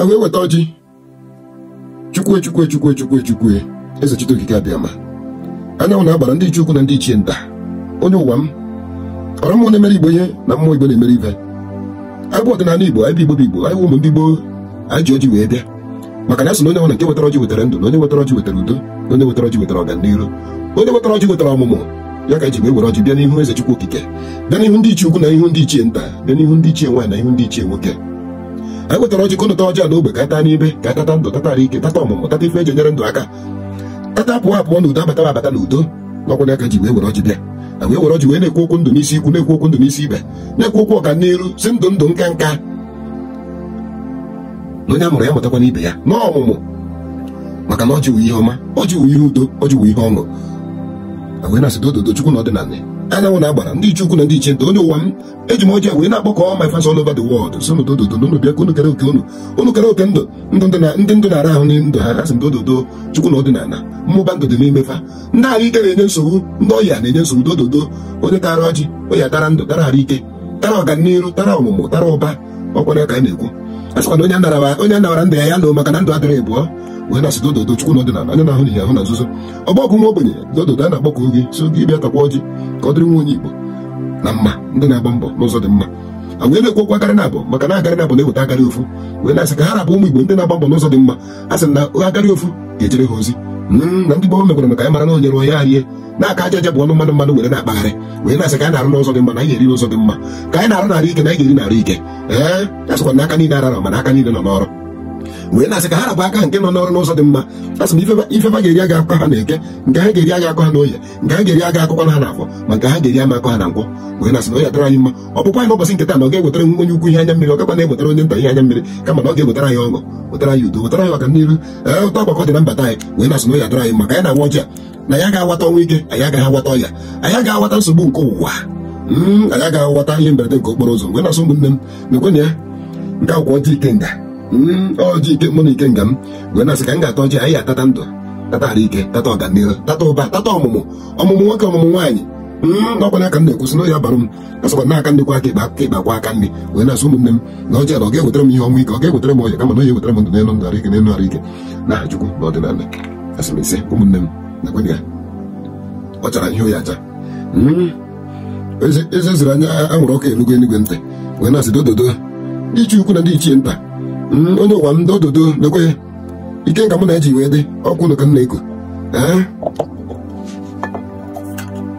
wee weta ọjị chukwu chukwu chukwu chukwu chukwu eze chite okike abịama anyanwụ na agbara ndị ichie ukwu na ndị ichie nta onye ụwa m ọrụ mmụọ na-emere igbo ihe na mmụọ igbo na-emere ibe anyị bụ ọdịnala igbo anyị bụ igbo bụ igbo anyị ụmụ ndị gboo anyị ji ọjị wee bịa maka na a sị na onye nwere nke wetara ọjị wetara ndụ na onye wetara ọjị wetara udo na onye wetara ọjị wetara ọganiru onye wetara ọjị wetara ọmụmụ ya ka e ji wee were ọjị bịa n'ihu eze chukwu okike bịa n'ihu ndị ichie ukwu na ihu ndị ichie nta bịa n'ihu ndị ichie nwaanyị na ihu ndị ichie nwoke anyị wetara ọjị ka ụnụ taa ọjị a n'ogbe ka a taa n'ibe ka tata ndụ tata arụ ike tata ọmụmụ tata ife e ji enyere ndụ aka tata a pụọ a pụọ n'udo a bata a bata n'udo na ọ kwanụ ya ka e ji wee were ọjị bịa a wee were ọjị wee na-ekwu okwu ndụ n'isi ikwu na-ekwu okwu ndụ n'isi ibe na-ekwu okwu ọganiru sị ndụ ndụ nka nka na onye a mụrụ ya mụtakwanụ ibe ya n'ọmụmụ maka na ọjị wụ ihe ọma ọjị wụ ihe udo ọjị wụ ihe ọṅụ a wee na-asị dododo chukwu na ọdịnala anyanwụ na agbara ndị ichie ukwu na ndị ichie nta onye ụwa m eji m ọjị wee na-akpọkọ all my fans all over the world sị dododo na unu bịa ka unu kere oke unu unu kere oke ndụ ndụ ndị ndụ na-ara ahụ n'ime ndụ ha asị m dododo chukwu na ọdịnala mụbaa ndụ dị n'ime fa ndị ahụ ike na-enye nsogbu ndị ọya na-enye nsogbu dododo onye tara ọjị onye tara ndụ tara ahụ ike tara ọganiru tara ọmụmụ tara ụba ọ kwanụ ya ka a na-ekwu a sịkwa na onye a nara ndụ ya ya lụọ maka na ndụ adịrọ abụọ wee na-asị dododo chukwu na ọdịnala onye na-ahụ n'ihe ahụ na nzuzo ogbo ọgụ nwa ogbenye dododo a na-akpọkọ gị sị gị bịa takwa ọjị ka ọ dịrị nwa onye Igbo na mma ndị na-agba mbọ n'ụzọ dị mma a wee na-ekwu okwu akarị naabọ maka na akarị naabọ na-eweta akarị ofu wee na-asị ka ha ra bụ ụmụ Igbo ndị na-agba mbọ n'ụzọ dị mma a sị na akarị ofu ga-ejere ha ozi hmm, na ndị gboo mekwara ka anyị mara na onye rụọ ya rie na aka aja aja bụ ọnụ mmanụ mmanụ were na-akpagharị wee na-asị ka anyị na-arụ n'ụzọ dị mma na anyị ga-eri n'ụzọ dị mma ka anyị na-arụ n'arụ ike na anyị ga-eri n'arụ ike ee a sịkwa na aka niile ararọ mana aka niile nọ n'ọrụ wee na-asị ka ha ra bụ aka nke nọ n'ọrụ n'ụzọ dị mma asị m ife fa ga-eri aga akọ ha n'eke nke ha ga-eri aga akọ ha n'oye nke ha ga-eri aga akọ ha n'afọ ma nke ha ga-eri ama akọ ha na nkwọ wee na-asị na ọ ya-adịrị anyị mma ọpụpụ anyị n'ụbọchị nke taa na ọ ga-ewetara onye ukwu ihe anya mmiri ọ gakwa na-ewetara onye nta ihe anya mmiri kama na ọ ga-ewetara anyị ọṅụ wetara anyị udo wetara anyị ọganiru ee ụtọ agbakọ dị na mbata anyị wee na-asị na ọ ya-adịrị anyị mma ka anyị na-awa ọjị a na anyị agaghị awata ọnwụ ike anyị agaghị awata ọya anyị agaghị awata nsogbu nke ụwa hmm, anyị agaghị awata ihe mberede nke okporo ụzọ wee na-asị ụmụnne m nekwanụ ya nekwa ọjị ikenga hmm, ọjị ike mụ na ikenga m wee na-asị ka m ga-ata ọjị anyị atata ndụ tata arụ ike tata ọganiru tata ụba tata ọmụmụ ọmụmụ nwoke ọmụmụ nwaanyị hmm, ọ kwanụ ya ka m na-ekwu sị na ya bara m a sịkwa na aka nri kwọọ aka ịkpa aka ịkpa akwọọ aka nri wee na-asị ụmụnne m na ọjị a na ọ ga-ewetara m ihe ọnwụ ike ọ ga-ewetara m ọya kama na ọ ga-ewetara m ndụ n'elu ndụ arụ ike n'elu arụ ike na aha Chukwu na ọdịnala asị m ise ụmụnne m nekwa ya ọ chara ihe oyi acha Hmm. ee ozi e ziri nwa anwụrụ ọkụ elugo eluigwe ntị wee na-asị dododo ndị ichie ukwu na ndị ichie nta Hmm, onye ụwa m dododo lekwa ya ikenga mụ na-eji wee dị ọ kwanụ ya ka m na-ekwu ee